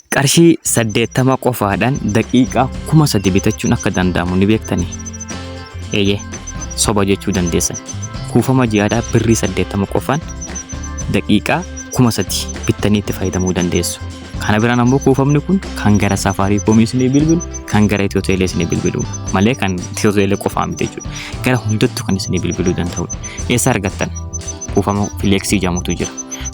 Qarshii 80 qofaadhaan daqiiqaa 3000 bitachuun akka danda'amu ni beektanii? Eeyyee, soba jechuu dandeessan. Kuufama ji'aadhaa birrii 80 qofaan daqiiqaa 3000 bittanii itti fayyadamuu dandeessu. Kana biraan ammoo kuufamni kun kan gara safaarii koomii isinii bilbilu, kan gara Itiyoo Teelee isinii bilbilu malee kan Itiyoo Teelee qofaa miti jechuudha. Gara hundattuu kan isinii bilbiluu danda'udha. Eessa argattan? Kuufama fileeksii jedhamutu jira.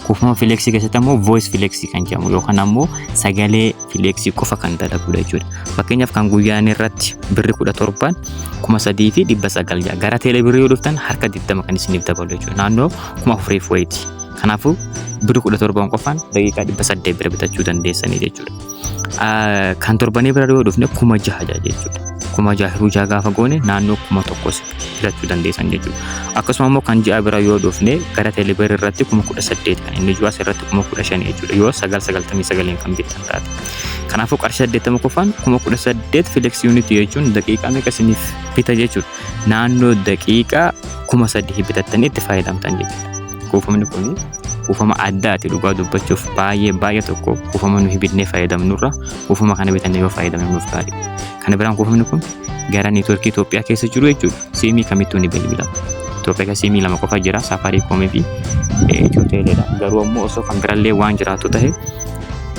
Kuufama fileeksii keessatti ammoo voice fileeksii kan jedhamu yookaan ammoo sagalee fileeksii qofa kan dalagudha jechuudha. Fakkeenyaaf kan guyyaan irratti birri kudha torbaan kuma sadii fi dhibba sagal ja'a. Gara teelee birrii yoo dhuftan harka digdama kan isiniif dabalu jechuudha. Naannoo kuma afuriif wayiiti. Kanaafuu birri kudha torbaan qofaan daqiiqaa dhibba saddeet bira bitachuu dandeessanii jechuudha. Kan torbanii bira yoo dhufne kuma jaha jechuudha. Kuma jaha hiruu jaha gaafa goone naannoo kuma tokkos filachuu dandeessan jechuudha. Akkasuma immoo kan ji'a bira yoo dhufne gara teelebeer irratti kuma kudha saddeet kan inni ji'as irratti kuma kudha shan jechuudha yoo sagal sagaltamii sagaliin kan bittan taate. Kanaafuu qarshii saddeettama qofaan kuma kudha saddeet fileksii yuunitii jechuun daqiiqaa meeqa isiniif bita jechuudha. Naannoo daqiiqaa kuma sadii bitattanii itti fayyadamtan jechuudha. Kuufamni kun kuufama addaati dhugaa dubbachuuf baay'ee baay'ee tokko kuufama nuyi bitnee fayyadamnurra kuufama kana bitannee yoo fayyadamne nuuf gaarii. Kana biraan kuufamni kun gara neetwoorkii Itoophiyaa keessa jiru jechuudha. Siimii kamittuu ni bilbila. Itoophiyaa keessa siimii lama qofa jira Safaariikoomii fi Itiyoo Teeleedha. Garuu ammoo osoo kan birallee waan jiraatu ta'e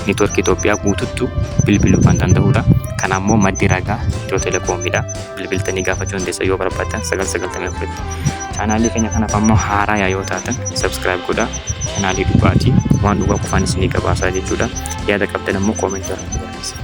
neetwoorkii Itoophiyaa guututtu bilbiluu kan danda'udha. Kana ammoo maddi ragaa Itiyoo Teeleekoomiidha. bilbiltanii gaafachuu dandeessan yoo barbaaddan 994 tti. Chaanaalii keenya kanaaf ammoo haaraa yaa yoo taatan subscribe godhaa. Chaanaalii dhugaati waan dhugaa qofaan isinii gabaasaa jechuudha. Yaada qabdan ammoo koomentii irratti barreessaa.